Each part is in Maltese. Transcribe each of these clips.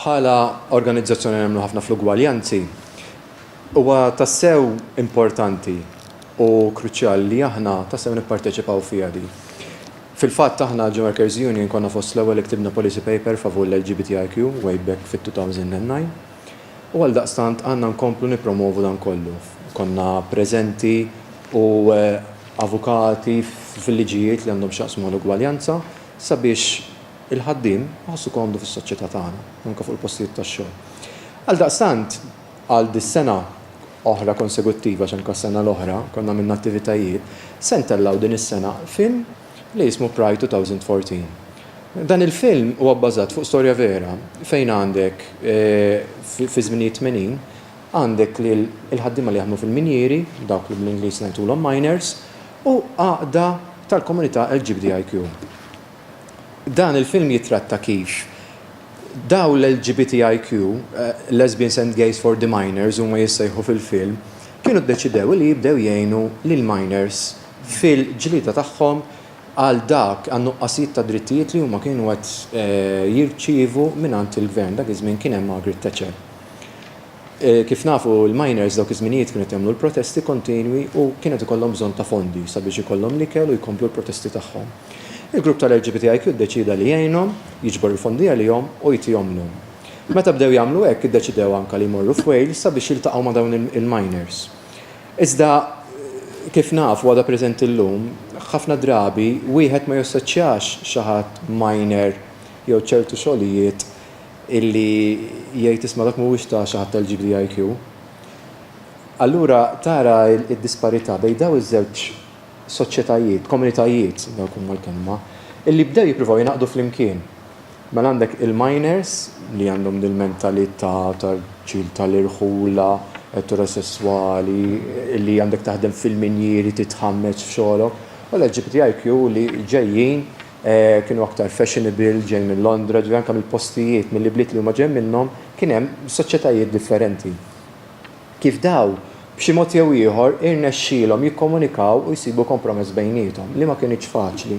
Bħala organizzazzjoni nemmnu ħafna fl-ugwaljanzi, huwa tassew importanti u kruċjali li aħna tassew nipparteċipaw fiha di. Fil-fatt aħna l-Workers Union konna fost l-ewwel li ktibna policy paper favur l-LGBTIQ way back fit-2009 u għaldaqstant għandna nkomplu nippromovu dan kollu. Konna preżenti u avukati fil-liġijiet li għandhom x'jaqsmu mal-ugwaljanza, sabiex il-ħaddiem iħossu komdu fis-soċjetà tagħna, anke fuq il-postijiet tax-xogħol. Għaldaqstant, għal dis-sena oħra konseguttiva, għax anke s-sena l-oħra konna għamilna attivitajiet, se ntellgħu din is-sena film li jismu Pride 2014. Dan il-film huwa bbażat fuq storja vera fejn għandek fiż-żminijiet tmenin għandek lil il-ħaddiema li jaħdmu fil-minjieri, dawk li bl-Ingliż ngħidulhom miners, u għaqda tal-komunità LGBTIQ. Dan il-film jittratta kif dawn l-LGBTIQ, Lesbians and Gays for the Minors huma jissejħu fil-film, kienu ddeċidew li jibdew jgħinu lill-minors fil-ġlieda tagħhom għal dak, għan-nuqqasijiet ta' drittijiet li huma kienu qed jirċievu mingħand il-gvern, dak iż-żmien kien hemm Margaret Thatcher. Kif nafu, il-miners dawk iż-żminijiet kienu qed jagħmlu l-protesti kontinwi u kien qed ikollhom bżonn ta' fondi sabiex ikollhom l-ikel u jkomplu l-protesti tagħhom. Il-grupp tal-LGBTIQ ddeċieda li jgħinhom, jiġbor il-fondi għalihom u jtihomlhom. Meta bdew jagħmlu hekk, iddeċidew anke li jmorru f'Wales sabiex jiltaqgħu ma' dawn il-miners. Iżda, kif nafu, għadha preżenti llum, ħafna drabi wieħed ma jassoċjax xi ħadd miner jew ċertu xogħlijiet illi jgħid isma' dak mhuwiex ta' xi ħadd tal-GBIQ. Allura tara d-disparità bejn dawn iż-żewġ soċjetajiet, komunitajiet, dawk huma l-kelma, illi bdew jippruvaw jingħaqdu flimkien. Mela għandek il-miners li għandhom dil-mentalità tal-ġil tal-irħula, eterosesswali, illi għandek taħdem fil-minjieri, titħammeġ f'xogħlok, u l-LGBTIQ li ġejjin Kienu aktar fashionable, ġej minn Londra, ġifieri anke mill-postijiet, mill-ibliet li huma ġej minnhom, kien hemm soċjetajiet differenti. Kif dawn, b'xi mod jew ieħor, irnexxielhom jikkomunikaw u jsibu kompromess bejniethom, li ma kinitx faċli.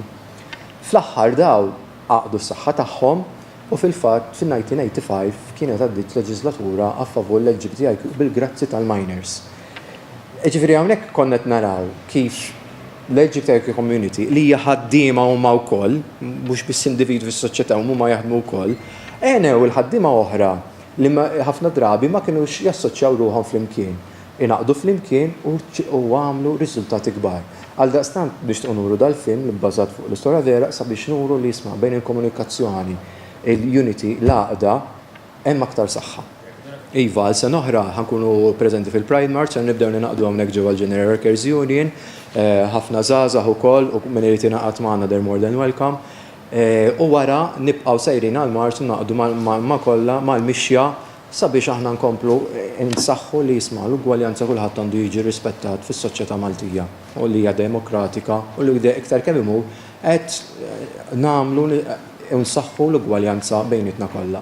Fl-aħħar dawn għaqdu s-saħħa tagħhom u fil-fatt fin-1985 kienet għaddiet leġiżlatura a favur l-LGBTIQ bil-grazzi tal-miners. Ġifieri hawnhekk konna qed naraw kif L-Egypt Turkey Community, li hija ħaddiema huma wkoll, mhux biss individwi fis-soċjetà u huma jaħdmu wkoll, għenew il-ħaddiema oħra li ħafna drabi ma kinux jassoċjaw ruħhom flimkien, ingħaqdu flimkien u għamlu riżultati kbar. Għaldaqstant nixtiequ nuru dal-film, bbażat fuq l-istorja vera, sabiex nuru li isma' bejn il-komunikazzjoni, il-unity, l-għaqda, Hemm aktar saħħa. Iva, għal sena oħra ħa nkunu preżenti fil-Pride March, ser nibdew ningħaqdu hawnhekk ġewwa l-General Workers Union, ħafna żgħażagħ ukoll u min irid jingħaqad magħna they're more than welcome. U wara nibqgħu sejrin għall-marċ u ningħaqdu ma' kollha mal-mixja sabiex aħna nkomplu nsaħħu li jisma' l-ugwaljanza kulħadd għandu jiġi rrispettat fis-soċjetà Maltija u li hija demokratika u li iktar kemm imur qed nagħmlu u nsaħħu l-ugwaljanza bejnietna kollha.